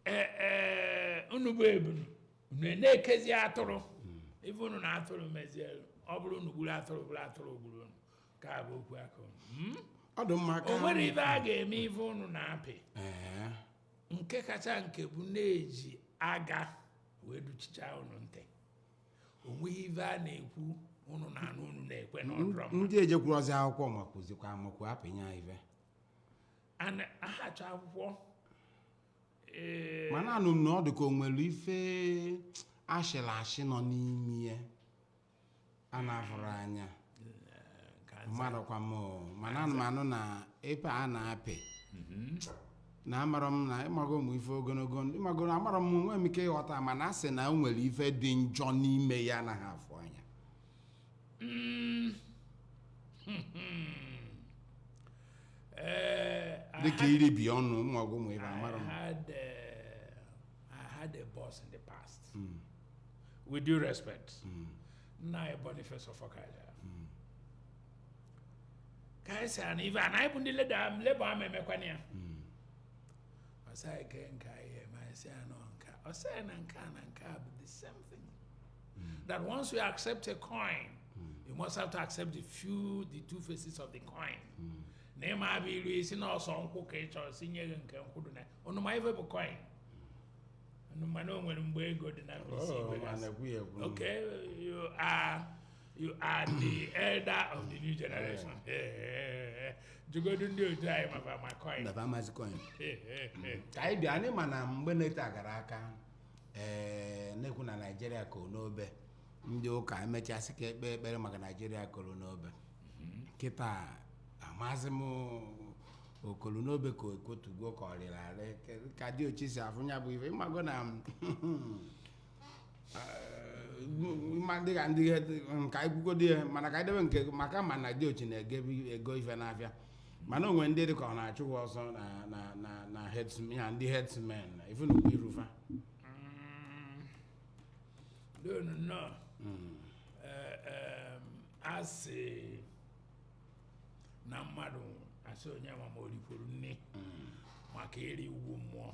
e, e, unu bụ ebunu unu na-ekezi atụrụ hmm. ife unu na atụrụ mezielu ọ bụrụ unu gburu atụrụ bụrụ atụrụ gburu unu ka bụ okwu aka unu hmm? ọ dị m ka o nwere ife a ga-eme ife unu na-apị nke kacha nke bụ na-eji aga wee duchicha unu ntị o nweghị ife a na-ekwu unu na-anụ unu na-ekwe n'ọdụrọ ndị ejekwurozi akwụkwọ ma kụzikwa amakwu apịnye ife and ahacha akwụkwọ ee mana anụ m na ọ dị ka o nwere ife ashịrị ashị nọ n'ime ya a na-afụrọ anya ka nza- mmadụkwa m o. mana anụ m anụ na ife a na-apị na amarọ m na ịmago ụmụ ife ogologo ndụ- ịmago na amarọ m nwee m ike ịghọta mana a sị na o nwere ife dị njọ n'ime ya anaghị afụ anya Mm. Eh, I dịka had- iribi ọnụ ụmụọgwụ ụmụ ibe I amara m had, uh, I had a boss in the past. With due respect, Nai Boniface of Okaja. Kaisa and Iva, and I put the letter, I'm labor, I'm a mechanic. I say, I can't carry him. I say, I know, I say, I can't, I can't, the same thing. Mm. That once you accept a coin, mm. you must have to accept the few, the two faces of the coin. Mm. na ịma abụ ilu isi na ọ sọ nkwụ ka ị chọrọ sị nye gị nke nkwụ dị na unu ma ife bụ coin unu ma na o nwere mgbe ego dị na mkpịsị oh, igwe gasị okay you are you are the elder of the new generation jụgodu ndị otu anyị ma fa ma coin ka anyị bịa anyị ma na mgbe na-ete agara aka ee eh, na-ekwu na naijiria koro n'obe ndị ụka emechaa sị ka e kpee ekpere maka naijiria koro n'obe mhm. kịta amazi m o koro n'obe ka o kotugo ka ọ rịrị arị ka diochi si afụ ya bụ ife ịmago na eh, dịka ndị nka ikwugo dị ya mana ka e debe nke maka mana diochi na-ego ife n'afịa mana o nwere ndị dịka ọ na-achụ ha ọsọ na na na na herdsmen ya ndị herdsmen na ife na-ekpu iru fa Don't know. Eh, em, a sị na mmadụ asị onye ma ma o rikwuru nni maka ịrị ugwu mmụọ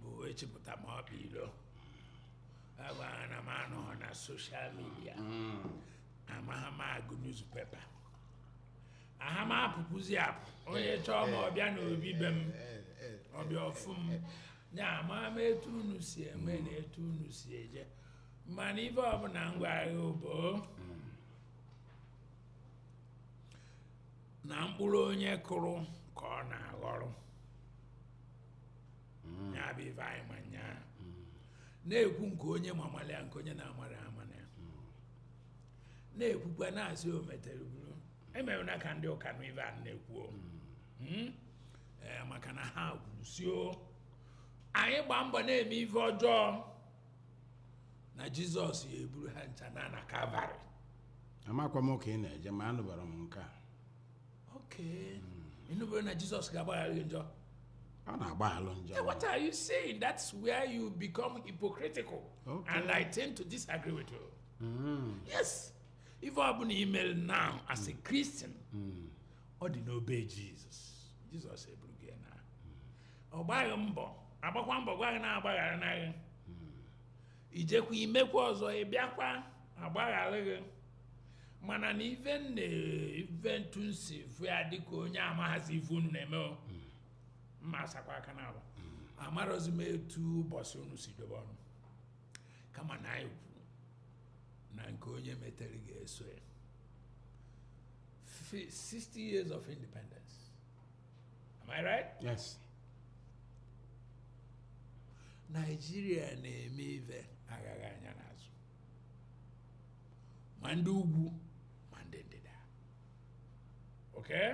bụ echepụta ma ọ bụ ilo agwara na m anọghị na soshal midia amaghị m agụ newspaper aha m apụkwuzi apụ onye chọọ m ọ bịa na obi be m ọ bịa ọ fụ m ya amaha m etu unu si eme na etu unu si eje mana ife ọbụla m gwara gị bụ na mkpụrụ onye kụrụ ka ọ na-aghọrọ mm. ya bụ ife anyị ma nya mm. na-ekwu nke onye ma mara ya nke onye na-amarọ amana ya mm. na-ekwukwa na-asị o metere buru emere na ka ndị ụka nụ ife a na-ekwu hmm? eh, maka na ha kwuru sị o anyị gbaa mbọ na-eme ife ọjọọ na jizọs ya-eburu ha ncha na na kalvarị amakwa m ka ị na-eje ma anụbarọ m nke a Okay. Mm. Ị nụbero na Jesus ga-agbaghara gị njọ. Ọ na-agbaghara njọ. Hey, what are you saying? That's where you become hypocritical. Okay. And I tend to disagree with you. Mm. Yes. Ife ọ bụla i melu now as a Christian, mm. ọ dị n'obe Jesus. Jesus eburu gị na. Ọ gbaghị mbọ, agbakwa mbọ gwa gị na agbagharana gị. i jekwa i mekwa ọzọ ị bịakwa agbaghara gị mana na ife na ife etu m si fụ ya dịka onye amaghazị ife unu na-eme o m na-asakwa aka naabọ amarọzị m etu ụbọchị unu si dobe ọnụ kama na anyị kwuru na nke onye metere ga-eso ya 60 years of independence. Am I right? Yes. Nigeria na-eme ife aghaghị anya n'azụ ma ndị ugwu ma ndị ndịda okay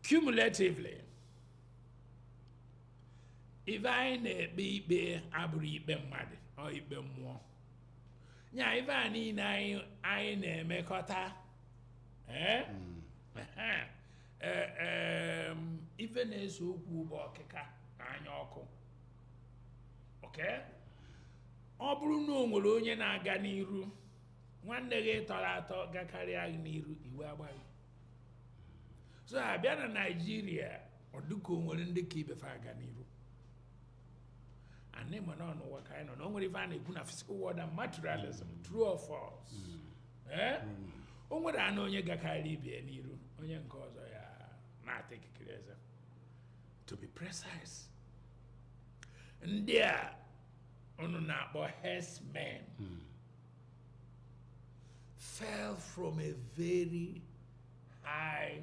cumulatively ife anyị na-ekpe ikpe abụrọ ikpe mmadụ ọ ikpe mmụọ nya ife a niile anyị anyị na-emekọta ee ee ife na-ese okwu bụ ọkịka na anya ọkụ okay ọ bụrụ na o nwere onye na-aga n'iru nwanne gị tọrọ atọ gakarịa gị n'iru iwe agba gị so a bịa na naijiria ọ dịka o nwere ndị ka ibe fa aga n'iru and ị ma na ọ n'ụwa ka anyị nọ na o nwere ife a na-ekwu na physical world and materialism true or false ee o nwere anụ onye gakarị ibie n'iru onye nke ọzọ ya na-ata ikikere eze to be precise ndị a unu na-akpọ herdsmen fell from a very high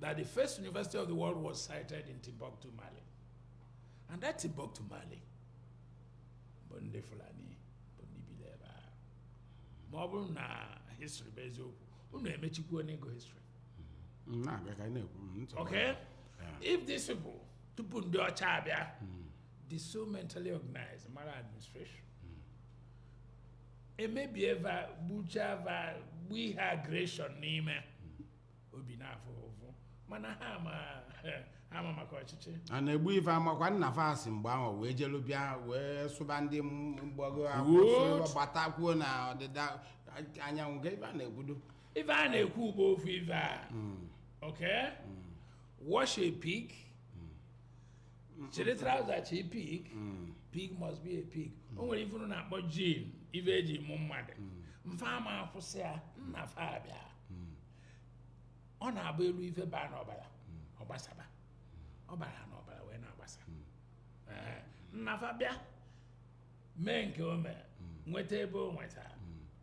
that the first university of the world was sited in Timbuktu, Mali. And that Timbuktu, Mali, bụ ndị Fulani bụ ndị bili eba. Ma ọ bụrụ na history bụ eziokwu, unu emechikwunugo history. Mm, na-abịa ka anyị na-ekwu mm, ntị Okay? Yeah. If these people, tupu ndị ọcha abịa, dị so mentally organized, mara administration. Emebie va, gbuchaa va, gbuo ihe aggression n'ime. obi na-afụ ụfụ mana ha ma ha ma maka ọchịchị a na-egbu ife amakwa nna fa si mgbe ahụ wee jelu bịa wee sụba ndị mgbago ugwu si gbatakwuo na ọdịda anyanwụ ka ife a na-ekwudo ife a na-ekwu bụ ofu ife a hmm. ok hmm. wash a pig chiri trouser chie pig pig must be a pig o nwere ife unu na-akpọ gene ife e ji mụọ mmadụ na fa ama akwụsị ya nna fa abịa hmm. ọ na-abụrụ ife baa n'ọbara hmm. ọ gbasaba ọ bara n'ọbara wee na-agbasa hmm. eh, nna fa bịa mee nke o mere nweta ebe o nwetara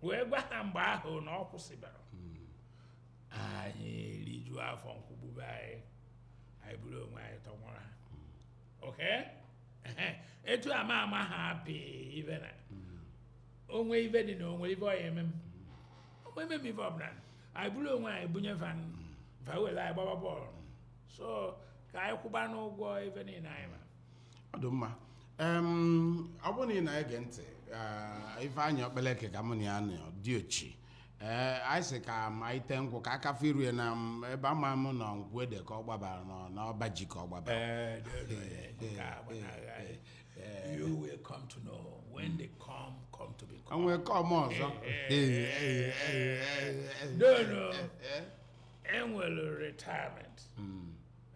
wee gwa ha mgbe ahụ na ọ kwụsịbara anyị rijuo afọ nkwụ gbube anyị anyị buru onwe anyị tọnwụrụ ha okay etu ama ama ha apị ife na o nwe ife dị na o nwe ife ọ ya-eme m onwe eme m ife ọbụla anyị buru onwe anyị bunye fa fa were anyị gbaba bọọlụ so ka anyị kwụbanụ ụgwọ ife niile anyị ma ọ dị mma Em, ọ bụrụ na ị na-ege ntị eh, Ifeanyị Okpaleke ka mụ na ya nọ diochi ee anyị sị ka ma ite nkwụ ka aka firu ya na m, ebe ama m nọ nkwụ ede ka ọ gbabara nọ n'ọba ji ka ọ gbabara Ee, dị otu onye, nke a gbanahụ anyị. Eh. you will come to know when the come come to become. nwee come ọzọ no no enwere retirement hmm.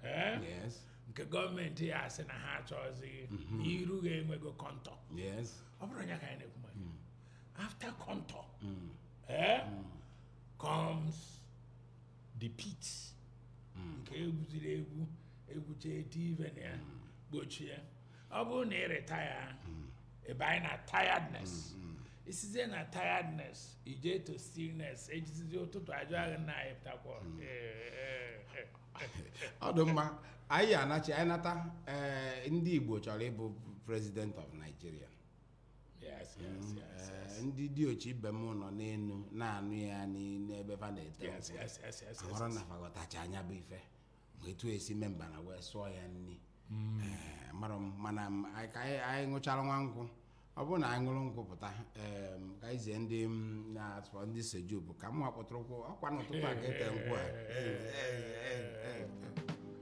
eh? yes nke gọọmenti ya-asị na ha achọghịzị mm-hmm. iru gị enwego contour yes ọ bụrụ ya ka anyị na-ekwu maka hmm. after contour hmm. eh? comes the pit hmm. nke egwuziri egwu egwuche etie ive na ya hmm. gbochie ọ bụrụ na ị retire hmm. ị banye na tiredness i sizie na tiredness i jee to stillness ejizizi ụtụtụ ajụ gị na ị pụtakwa ọ dị mma anyị anachi anyị nata eh, ndị Igbo chọrọ ịbụ president of Nigeria Yes, yes, yes, Eh, yes. ndị diochi ibe m nọ n'elu na-anụ ya n'i- n'ebe fa na-ete Yes, nkwụ. yes, yes, yes, ahụrụ yes. na fa ghọtachaa nya bụ ife ma etu esi mee mbana wee sụọ ya nri Eh, mara m mana m- anyị- ka anyị anyị ṅụchara nwa nkwụ ọ bụrụ na anyị ṅụrụ nkwụ pụta em, ka anyị zie ndị m na-atụrụ ndị soju bụ ka m wakpọtụrụ nkwụ ọ kwa n'ụtụtụ a ka ete nkwụ a Eh, eh, eh, eh, eh.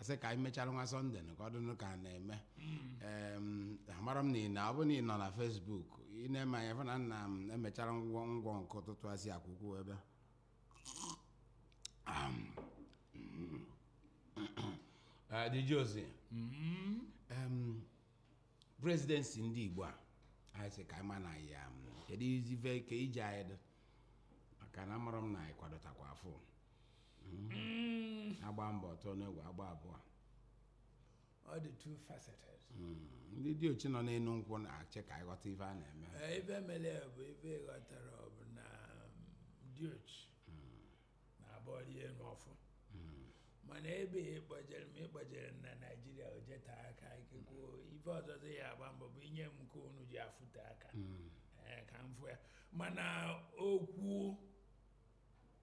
asị ka anyị mechara nwa Sunday nụ ka ọ dịnụ ka a na-eme Em, amara m na ị na ọ bụrụ na ị nọ na Facebook ị na-eme anya fụ na nna m emechara ngwọngwọ nke ụtụtụ asị akwụkwọ ebe Eh, Diochi, em, presidency ndị igbo a anyị sị ka anyị ma na ya keduzi ive ka ije anyị dị maka na amara m na anyị kwadotakwa afọ Mm, agba mbụ ọ tụọ n'egwu agba abụọ ọ dị two faceted Mm, ndị diochi nọ n'elu nkwụ na-eche ka anyị ghọta ife a na-eme Ee, ife mere ya bụ ife ghọtara ọ bụ na diochi na-abụ ọ rị elu ọ fụ mana ebe ya ị kpọjere m ị kpọjere m na Nigeria o jete aka ikekwe ife ọzọzị ya-agba mbọ bụ inye m nke unu ji afụte aka Ee, ka m fụ ya mana okwu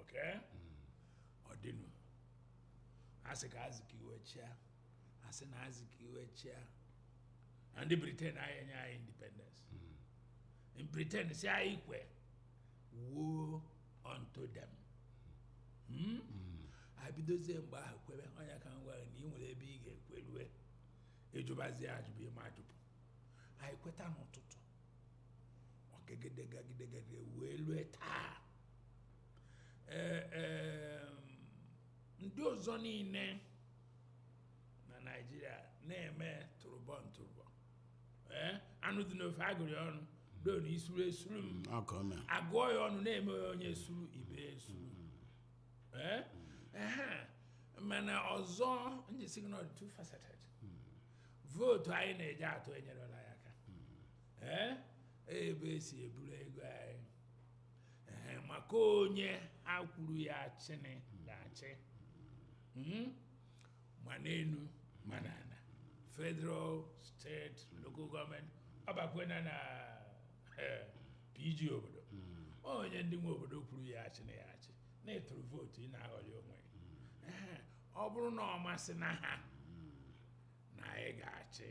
okay ọ dịnụ asị ka azikiwe chịa asị na azikiwe chịa na ndị briten anyị enye anyị independence ndị britain sị anyị kwe woe unto them Hmm? abidozie mgbe ahụ kwebe onye ka m gwara na ị nwere ebe ị ga-ekwerue ịjụbazie ajụ bụ ịma ajụpụ anyị kweta n'ụtụtụ ọ gagide gagide gagide wee lue taa ee ee ndị ọzọ niile na naijiria na-eme tụrụbọn tụrụbọn ee anụ dị n'ofe agụrị ọnụ do na isuru esuru m mm, ọkọ m agụọ ya ọnụ na-eme ya onye suru ibe suru mm. ee ehe mana ọzọ m ji sị gị na ọ dị two faceted vootu anyị na-eji atụ enyerọla anyị aka ee ebe esi eburu ego anyị ee maka onye ha kwuru ya chịnị ga-achị Hmm? ma n'elu ma n'ala federal steeti local gọọmenti ọ bakwena na eh, pg obodo onye ndị nwe obodo kwuru ya chịnị ya achị na ịtụrụ vootu ị na-aghọrị onwe gị. Eh, ọ bụrụ na ọ masịna ha na anyị ga-achị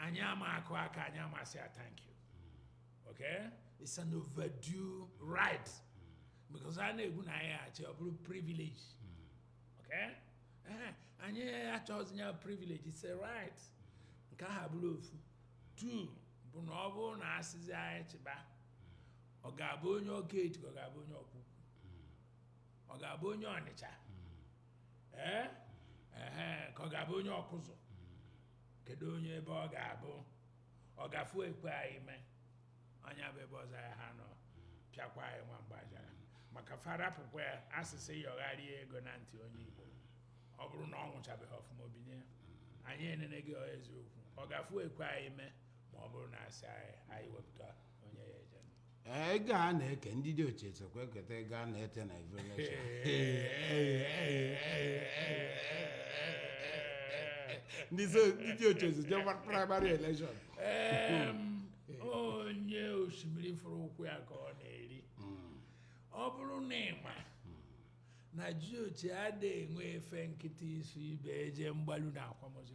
anyị ama akụ aka anyị ama asị ya thank you okay it's an overdue right because a na-ekwu na anyị achị ọ bụrụ privilege okay ee anyị achọghịzi ya privilege it's a right nke aha bụrụ ofu two bụ na ọ bụrụ na asịzi anyị chịba ọ ga-abụ onye ọka eti ka ọ ga-abụ onye ọkwụkwụ ọ ga-abụ onye ọnịcha ee ehe ka ọ ga-abụ onye ọkụzụ kedu onye ebe ọ ga-abụ ọ gafu ekwe anyị mee onye bụ ebe ọzọ ya ha nọ pịakwa anyị nwa mgbajara maka fa rapụkwa ya asị sị yọgharịa ego na ntị onye igbo ọ bụrụ na ọ nwụchabeghị ọfụma o binye anyị enene gị ọ eziokwu ọ gafu ekwe anyị mee ma ọ bụrụ na asị anyị anyị wepụta Ee, ego a na-eke ndị diochi sokwa eketa ego a na-ete na evolution ndị so- ndị diochi so je gba- primary election Em, onye osimiri fụrụ ụkwụ ya ka ọ na-eri ọ bụrụ na ịma na jiochi adịghị enwe efe nkịtị iso ibe eje mgbalu na akwamozu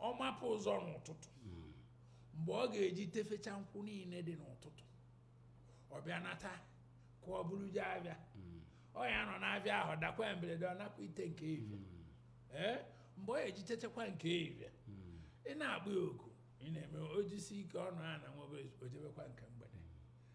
ọ mapụ ụzọ n'ụtụtụ mgbe ọ ga-eji tefecha nkwụ niile dị n'ụtụtụ ọ bịa nata ka o buru je avịa ọ ya anọ n'avịa ahụ dakwa ya mberede ọ nakwa ite nke ivia ee mgbe ọ ga-eji techakwa nke ivia ị na-akpọ ya oku ị na-eme ojisi ike ọnụ a na nwebe ojebekwa nke mgbede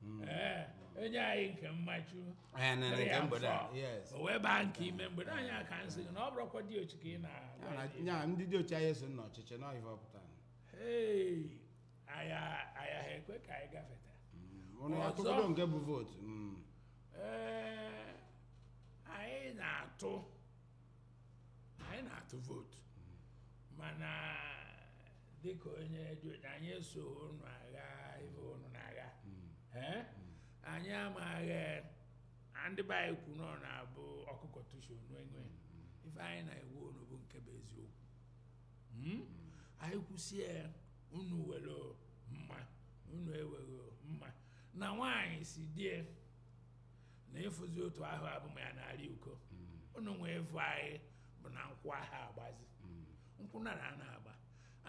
hmm. eh, enye anyị nke mmachu eh, o wee baa nke ime mgbede anyị aka nsị na ọ bụrụkwa diochi ka ị na ndị diochi anyị so n'ọchịchị na ife ọ pụtara ayaha ekwe ka anyị gafeta hmm, nke bụ vootu hmm. eh, anyị na-atụ anyị na-atụ vootu mana dịka onye diochi anyị eso unu agha ife unu na-agha Ee? anyị amaghị a ndị be anyị kwu na ọ na-abụ ọ kụkọta ishi ọnụ e nwee ife anyị na-agwa unu bụ nke bụ eziokwu Mm? anyị kwụsie unu were mma unu eweghị mma na nwaanyị sị di e na ịfụzi otu ahụ abụ m ya na-arị uko unu nwe evu anyị bụ na nkwụ ahụ agbazi nkwụ nara a na-agba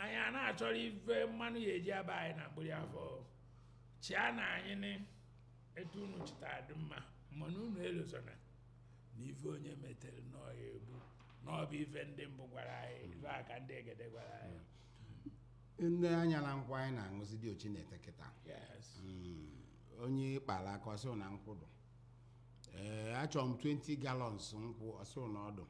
anyị a na-achọrọ ife mmanya ji aba anyị na mgbiri afọ chịa na anyị nị etu unu chịta dị mma mana unu elozona na ife onye metere na ọ ya egbu na ọ bụ ife ndị mbụ gwara anyị ife a ka ndị egede gwara anyị nee anya na nkwụ anyị na-aṅụzi diochi na-ete kịta yes onye kpara aka ọ sị na nkwụ dụ ee achọrọ m 20 gallons nkwụ ọ sị na ọ dụ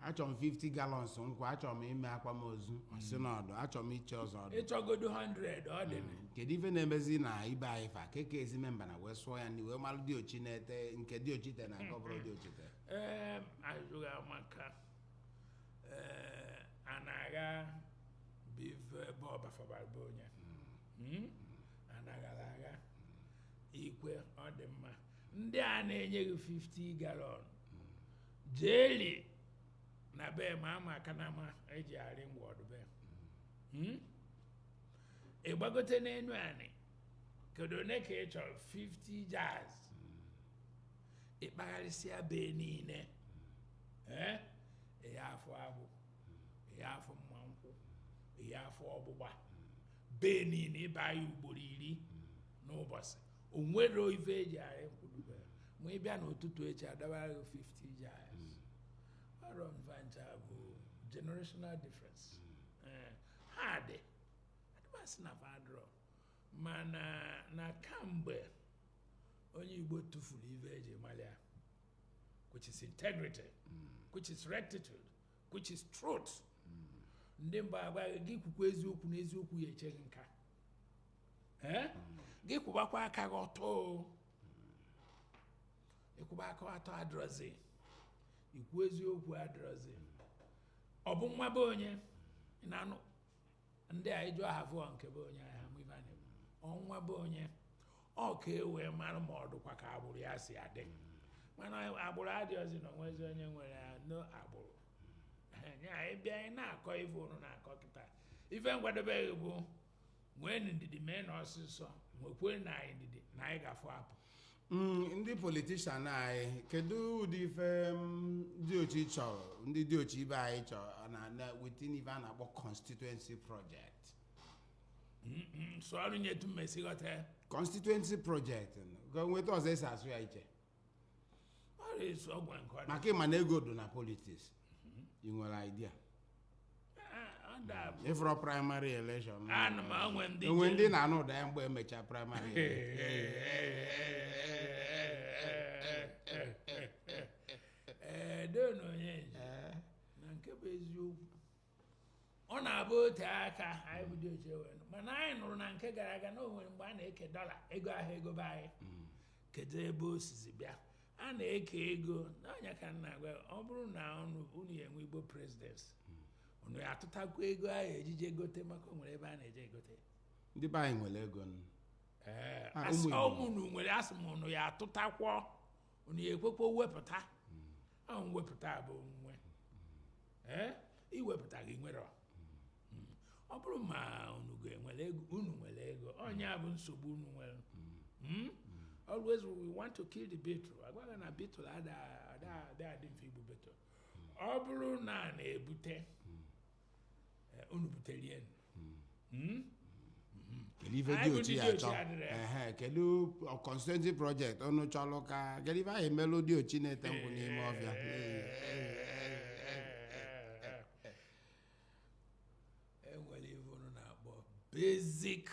achọrọ m 50 gallons nkwụ achọrọ m ime akwamozu ọ sị na ọ dụ achọrọ m ichi ọzọ ọ dụ ị chọgodo 100 ọ dị na kedu ife na-emezi na ibe anyị fa keke ezi memba na wee sụọ ya ndị wee malụ diochi na-ete nke diochi te na nke ọ bụrọ diochi te ee azụghị amaka ee a na-agha bụ ife ebe ọbafabara bụ onye Mm? anaghara agha ikwe ọ dị mma ndị a na-enye gị 50 galọn jeeli na be ma ama aka na ama eji arị ngwọ ọ dụ be Hmm? ị gbagote n'enu anị kedu one ka ị chọrọ 50 jars ị kpagharịsịa be niile ee ya afụ agbụ ya afụ mma nkwụ ya afụ ọgbụgba bee niile ị baa ya ugboro iri n'ụbọchị o nwerọ ife eji arị nkwụ dụ be ma ị bịa n'ụtụtụ echi a dọbara gị 50 jars ọrọ nva ncha bụ generational difference Eh, ha dị adị a ma asị na fa adịrọ mana na kamgbe onye Igbo tụfuru ife eji mara ya which is integrity which is rectitude which is truth ndị mbụ agwa gị kwukwa eziokwu na eziokwu ya eche gị nka ee gị kwụbakwa aka gị ọtọ ịkwụba aka ọtọ adịrọzi ikwu eziokwu adịrọzi ọ bụ nwa be onye ị na-anụ ndị a ịjụ aha vụọ nke be onye aha mụ ibe a na-ekwu ọnwa be onye ọ ka e wee mara ma ọ dụkwa ka agbụrụ ya si adị mana agbụrụ adịghịzi na o nwezi onye nwere ya no agbụrụ ya ịbịa anyị na-akọ ife unu na-akọ kịta ife nkwadobeghị bụ nweenụ ndidi meenụ ọsịsọ nwekwee na anyị ndidi na anyị ga-afụ apụ Mm, ndị politician anyị kedu ụdị ife mm, diochi chọrọ ndị diochi ibe anyị chọrọ na na within ife a na-akpọ constituency project sụọrụ m ya etu m ya-esi ghọta ya constituency project ka o nwe etu ọzọ e si asụ ya iche ọrịa isi ọgwụ nke ọrịa maka ị ma na ego dị na politics i nwere idea ị fụrọ primary election ana m o nwe ndị o nwe ndị na-anụ ụda ya mgbe e mechara primary edona onye nje na nke bụ eziokwu ọ na-abụ o tee aka anyị bụ diochi wee nụ. mana anyị nụrụ na nke gara aga na o nwere mgbe a na-eke dollar ego ahụ ego be anyị kedu ebe o sizi bịa a na-eke ego nya ka m na-agwa ya, ọ bụrụ na unu unu ya-enwe Igbo presidency unu ya-atụtakwa ego a ya-eji je gote maka o nwere ebe a na-eje egote ya. ndị be anyị nwere ego nụ. Ee, Ah, asị ụmụ Igbo. ọmụ unu nwere asị m unu ya-atụtakwa unu ya-ekwekwa wepụta ahụ mwepụta bụ nwe ee i wepụtaghị i nwerọ hmm. ọ bụrụ ma unu ga-enwere ego unu nwere ego ọ nya bụ nsogbu unu nwere hmm? always we want to kill the beetle agwa gị na beetle ada adị mfe igbu beetle ọ bụrụ na a na-ebute eh, unu buterie kedu ife diochi ya-achọ ehe kedu constituency project unu chọlụ ka kedu ife a ya-emelụ diochi na-ete nkwụ n'ime ọfịa e nwere ife unu na-akpọ basic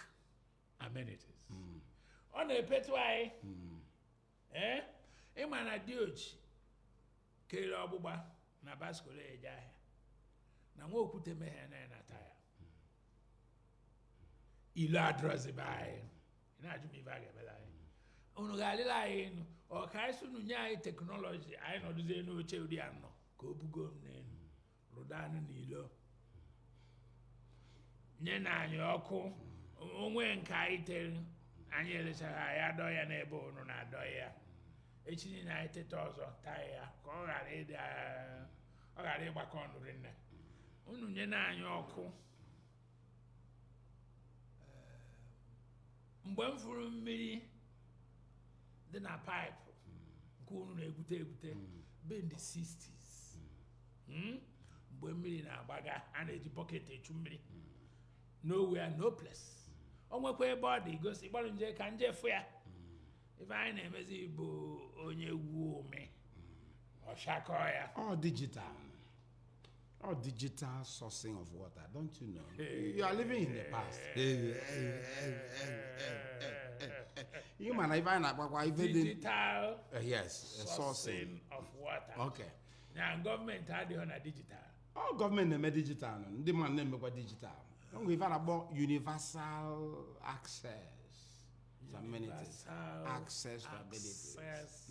amenities hmm. ọ na-epetu anyị hmm. ee eh? ị ma na diochi kere ọgbụgba na bicycle eje ahịa na nwa okwute mehie na-enata ya hmm. ilu adịrọzi be anyị ị na-ajụ m ife a ga-emelụ anyị unu ga-alịlụ anyị enu ọ ka anyị sị unu nye anyị technology anyị nọdụzie n'oche ụdị a nọ ka o bugo m n'elu rụda anụ n'ilo nye na anyị ọkụ o nwee nke anyị tere anyị elecharọ ya dọ ya n'ebe unu na-adọ ya echi niile anyị teta ọzọ taa ya ka ọ ghara ịdị ọ ghara ịgbaka ọnụ rinne unu nye na anyị ọkụ mgbe m fụrụ mmiri dị na paịpụ nke unu na-egwute egwute bụ in the 60s Hmm? mgbe mmiri na-agbaga a na-eji bọket echu mmiri nowhere no place o nwekwa ebe ọ dị gosi gbalụ nje ka m je fụ ya ife anyị na-emezi bụ onye gwuo omi ọshakọ ya ọ digital Ọ digital sourcing of water, don't you know? You are living in the past. Ị ma na ife ị na-akọwa ife dị digital Uh, yes, uh, sourcing. sourcing of water Okay. na gọọmenti adịghị na digital Ọ gọọmenti na-eme digital nụ, ndị mmadụ na-emekwa digital. O nwere ife a na-akpọ universal access to amenities. Universal Access to amenities. access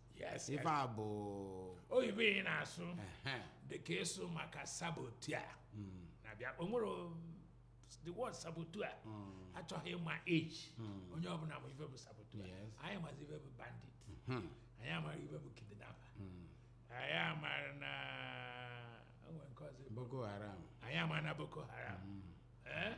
Yes, ife a bụ oyibo ị na-asụ ehe, dịka ị sụ maka saboteur na-abịa o nwere o- the word saboteur achọghị ịma age onye ọbụla ma ife bụ saboteur Yes. anyị mazi ife bụ bandit hmm, anyị amara ife bụ kidnapper anyị amara na o nwere nke ọzọ bụ- Boko Haram anyị amara na Boko Haram Eh?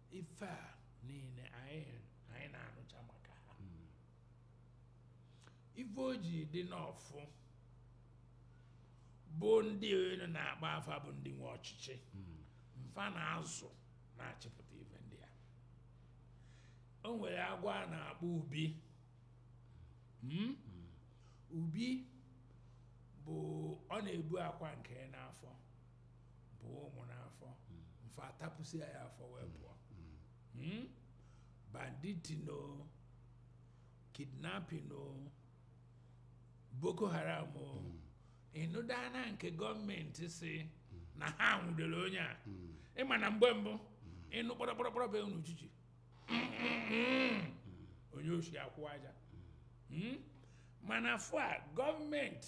ife a niile anyị anyị na-anụcha maka ha ife o ji dị nọfụ bụ ndị unu na-akpọ afa bụ ndị nwe ọchịchị mfa na-azụ na-achịpụta ife ndị a o nwere agwọ a na-akpọ ubi Hmm? ubi bụ ọ na-ebu akwa nke e n'afọ bu ụmụ n'afọ mfa atapụsịa ya afọ wee pụọ Hmm? banditing o kidnapping o Boko Haram o ị nụda na nke gọọmenti sị na ha nwụdere onye a ị ma na mgbe mbụ ị nụ kpọrọkpọrọkpọrọ be unu uchichi onye oshi akwụ aja Hmm? mana fụ a gọọmenti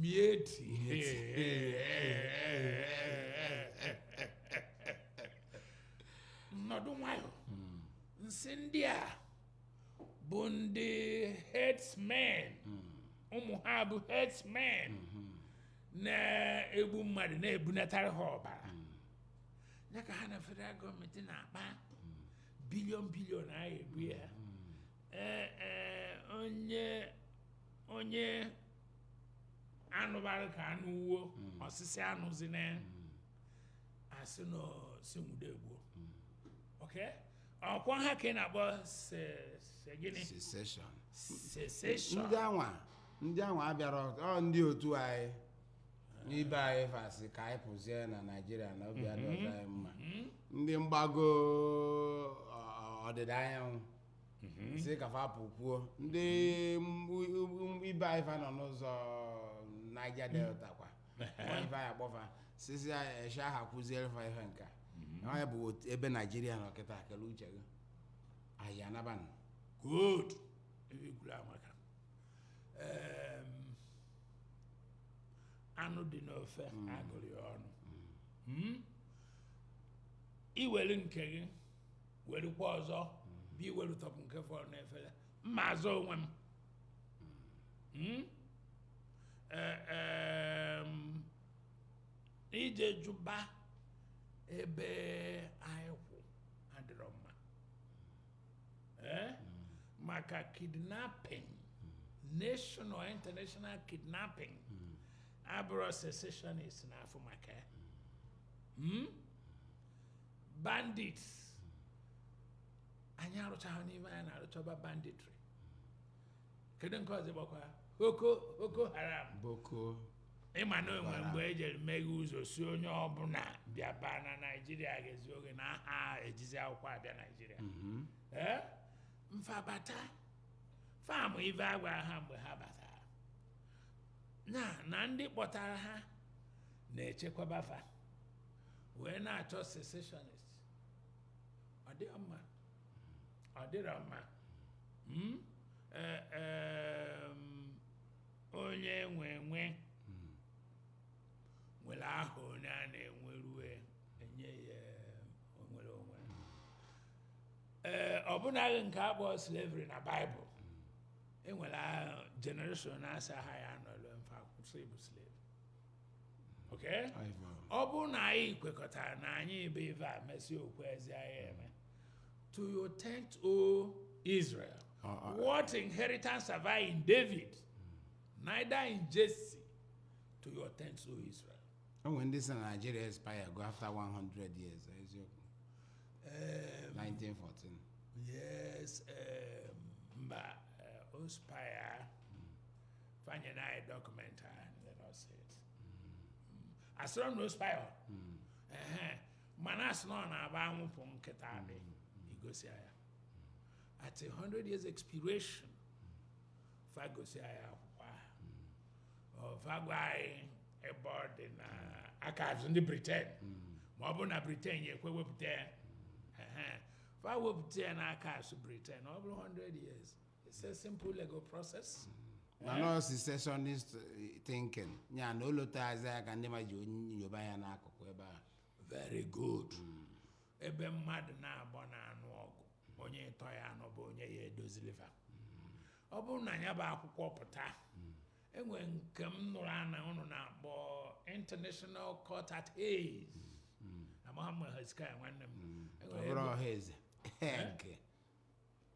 Miyetti. Nọdụ nwayọ. M sị ndị a bụ ndị herdsmen. Ụmụ ha bụ herdsmen. Na-egbu mmadụ na-ebunatara ha ọbara. Ya ka ha na federal gọọmenti na-akpa billion billion a egbu ya. Ee, ee, onye onye anụbara ka anụ wuo hmm. ọ sị sị anụzina hmm. a sị na sị nwude egbuo hmm. okay ọkwa ha ka ị na-akpọ secession ndị anwa ndị anwa abịara ọ ndị otu anyị n'ibe anyị fa sị ka anyị pụzie na naijiria na obi adịrọzi mhm. anyị mma mhm. ndị mgbago ọdịda anyanwụ Mhm. sị ka fa pụkwuo ndị m- m- ibe anyị fa nọ n'ụzọ Niger Delta kwa Nwa ife anyị akpọ fa secession aha kwụziere fa ihe nka onye bụ otu- ebe Naijiria nọ kịta kele uche gị anyị anabanụ good ebe kwuru amaka Em, anụ dị n'ofe a gụrụ ya ọnụ Mm? i were nke gị werukwa ọzọ bụ i weru tọpụ nke fọrọ n'efere m na-azọ onwe m Hmm? Eh, em, i jee jụba ebe anyị kwụ adịrọ mma Eh? maka kidnapping national international kidnapping abụrọ secessionist na-afụ maka ya Hmm? bandits anyị arụchaghị n'ime anyị na-arụchaba banditry kedu nke ọzọ gbakwa boko boko haram ị ma na o nwe mgbe e jere meghe ụzọ sị onye ọbụla bịaba na naijiria ga-ezi oge na aha ejizi akwụkwọ abịa naijiria mhm. ee ma fa bata fa ma ive a gwa ha mgbe ha batara na na ndị kpọtara ha na-echekwaba fa wee na-achọ secessionist ọ dịghị mma ọ dịrọ mma Hmm? Eh, em, onye nwe nwe nwere aha onye a na-enwerue enye ya nnwere onwe ee ọ bụnaghị nke a kpọọ slavery na baịbụl enwere generation naasaa ha ya nọrọ ma fa kwụsị ịbụ slave okay ọ bụrụ na anyị kwekọtara na anyị ebe ife a mesịa okwu ezi anyị eme to your tent o Israel ah, ah, ah. what inheritance have I in David neither in Jesse to your tent o Israel enwere ndị sị na Nigeria expirego after 100 years eziokwu 1914 um, yes um, mba uh, ọ expire fa nye anyị document ahụ and let us see it. asịrọ m na ọ expire mana asị na ọ na-aba anwụpụ nkịta adị igosi ya at a 100 years expiration fa gosi anyị akwụkwọ ahụ fa gwa anyị ebe ọ dị na archives ndị Britain ma ọ bụrụ na Britain ya ekwe wepụta ya Ehe. fa wepụta ya na archives Britain over 100 years It's a simple legal process. na no secessionist eh, thinking ya na olotazi aka ndị ma ji onye yoba ya n'akụkụ ebe a Very good. Ebe mmadụ naabọ na-anụ ọgụ, onye ịtọ ya na ọ bụ onye ya edozili va. Ọ bụrụ na ya bụ akwụkwọ pụta, enwe nke m nụrụ ana ụnụ na-akpọ International Court at Hays. Amaghị m Hezekiah nwanne m. Enwere ọ bụrụ ebe- ọha eze nke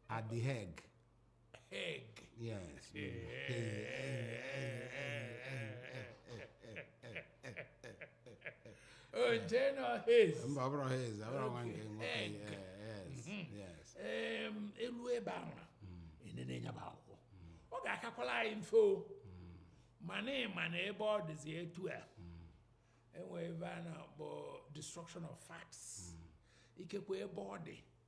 at the Hague Hague. yes Oje nọ Hez. mba ọ bụrọ Hez ọ bụrọ nwanne gị nwoke Hague. yeah, yes yes Em, e lu ebe ahụ enene nya bụ akwụkwọ ọ ga-akakwala anyị mfe o mana ị ma na ebe ọ dịzi etu a enwe ive a na-akpọ destruction of facts ikekwe ebe ọ dị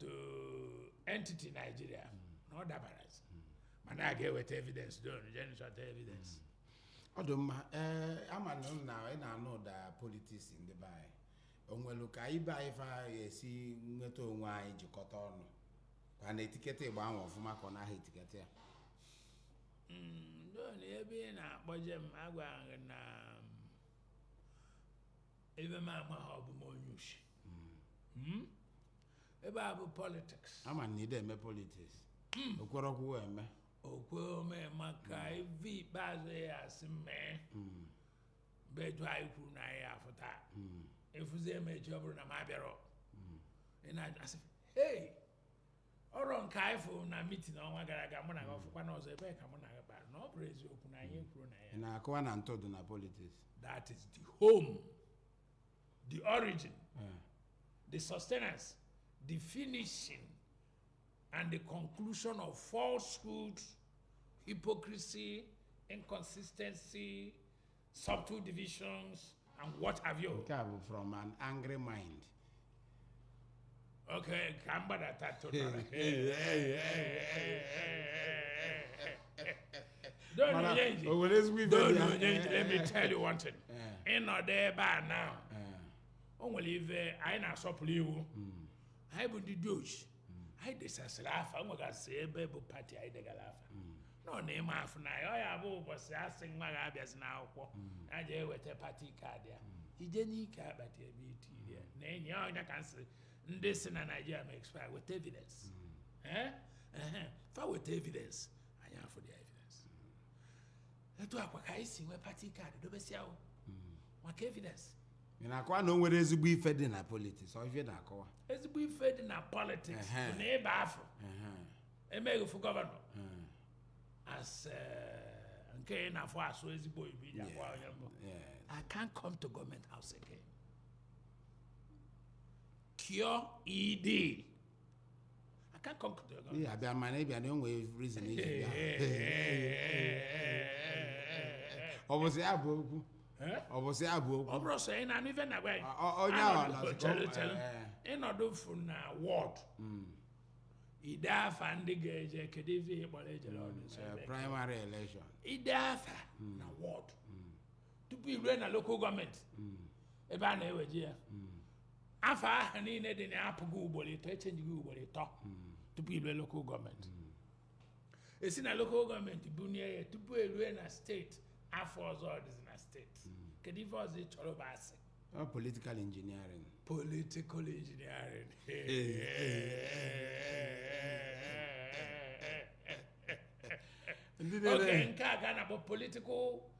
to entity Nigeria na ọ dabara mana a ga-eweta evidence Don jee chọta evidence ọ dị mma ee ama m na ị na-anụ ụda politics ndị be anyị o nwere ka ibe anyị fa ga-esi nweta onwe anyị jikọta ọnụ ka na etiketa ịgba ahụ ọfụma ka ọ naghị etiketa ya Don ebe ị na-akpọje m agwa gị na ive m ama ha ọ bụ m onye ushi Hmm? ive a bụ politics ama na ị de eme politics okwere ọkwụwụ eme okwe ome maka ive ikpeazụ ya asị m ebedu anyị kwuru na anyị afụ taa ị fụzie m echi ọ bụrụ na m abịarọ ị na-ajụ asị hei ọrọ nke anyị fụrụ na mitin ọnwa gara aga mụ na gị ọ fụkwana ọzọ ebee ka mụ na gị kpara na ọ bụrụ eziokwu na anyị kwuru na ya ị na-akọwa na ntụ dị na politics that is the home the origin the sustenance the finishing and the conclusion of falsehood hypocrisy inconsistency subtle divisions and what have you. nke a bụ from an angry mind Okay, ka m gbadata tụtara. Don Mana, Onyeji, o nwere ezigbo ive Don dị ya. Onyeji, let me tell you one thing. Eh. Ịnọdụ ebe a now, Eh, o nwere ife anyị na-asọpụrụ iwu. Anyị bụ ndị dị oji. anyị desasịrị afa nwegasị ebe bụ pati anyị degara afa nọ na ịma afụ na ya ọ ya bụ ụbọchị asị nwa gị abịazi n'akwụkwọ ya ji eweta pati kaadị ya ije n'ike akpati ebe itiri ya na enyi ya ọ nya ka nsị ndị sị na naijiria ma expire weta evidence Eh? Ehe. fa weta evidence anyị afụ the evidence etu a kwa ka anyị si nwee pati kaadị dobesịa o maka evidence ị na-akọwa na o nwere ezigbo ife dị na politiks ọ ife ị na-akọwa ezigbo ife dị na politiks Ehe. bụ na ịba afụ Ehe, emeghị fụ gọvanọ ehe, as eh, nke ị na-afụ asụ ezigbo oyibo ị ja-agwa onye m bụ yes. I can't come to government house again. QED. I can't come to your ị ya abịa mana ị bịa na o nwe reason i ji bịa ọ bụzi ya bụ okwu Eh? ọ bụzi ya bụ okwu ọ bụrụ sọ ị na-anụ ife na-agwa ya Ọ- ọ- onye ahụ Anọdụ- nọzikọ- chere, chere. eh. ị nọdụ fụ na wọd ide afa ndị ga-eje kedu ife ị kpọrọ ejere ọdụ nsọ Eh, ebe? primary election ide afa na wọd tupu irue na lokal gọọmenti ebe a na-eweje ya afa ahụ niile dị na ya apụgo ugboro ịtọ echenjigo ugboro ịtọ tupu irue lokal gọọmenti esi na lokal gọọmenti bunie ya tupu erue na steeti afa ọzọ ọ dịzi na steeti kedu ife ọzọ ị chọrọ bụ a sị ọ politikal injiniarin political engineering ndị oge niile nke a ga na-akpọ political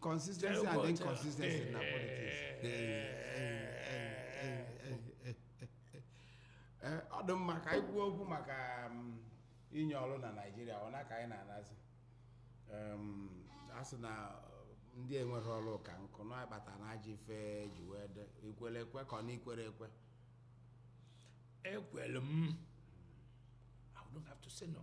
consistency and inconsistency na politics Ee, ọ dị mma ka anyị kwuo okwu maka um, inye ọrụ na naijiria ụna ka anyị na-anazi Um, a sị na uh, ndị enwerọ ọrụ ka nkụ na-akpata na ajọ ife ji wee dị i kwere ekwe ka ọ na i kwerọ ekwe ekwere m i don't have to say no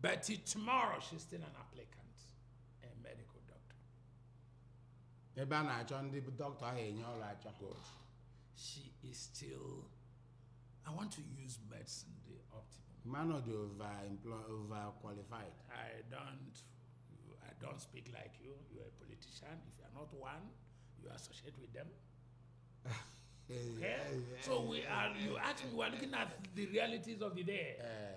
But tomorrow she's still an applicant, a medical doctor. ebe a na-achọ ndị bụ dọkịta ahụ enye ọrụ achọ Good. She is still. I want to use medicine the optimum. mmanụ dị over emplo- over qualified I don't. I don't speak like you. You're a politician. If you're not one, you associate with them. Okay? So we are. You actually we are looking at the realities of the day. Eh,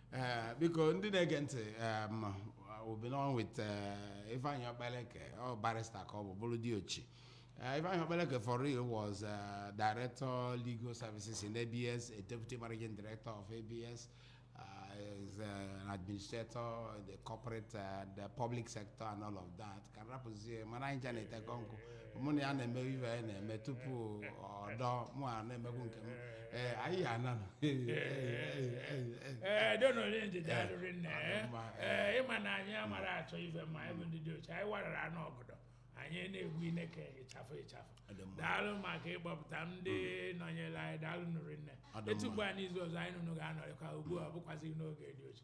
ee biko ndị na-ege ntị em, we've been on with eh, Ifeanyi Okpaleke ọ barista ka ọ bụ bụrụ diochi Eh, Ifeanyi Okpaleke for real was eh, director legal services in ABS a deputy managing director of ABS uh, is eh, an administrator in the corporate and the public sector and all of that ka rapụzie mana anyị ja na-etekọ nkwụ mụ na ya na-eme ife anyị na-eme tupu ọdọ mụ a na-emekwu nke m ee anyị ya ananụ ee donu onye ndidi daalụ rinne ee. Mma, ee ị ma na anyị amarọ achọ ife ma anyị bụ ndị diochi anyị warara anụ ọgọdọ anyị na-egbu ị na-eke ịchafụ ịchafụ Ọ dị mma. daalụ maka ịgbapụta ndị nọnyere anyị daalụ nụ rinne Ọ dị etu mma. mgbe a n'izu ọzọ anyị na ụnụ ga-anọrịkwa ugbu a ọ bụkwazi n'oge diochi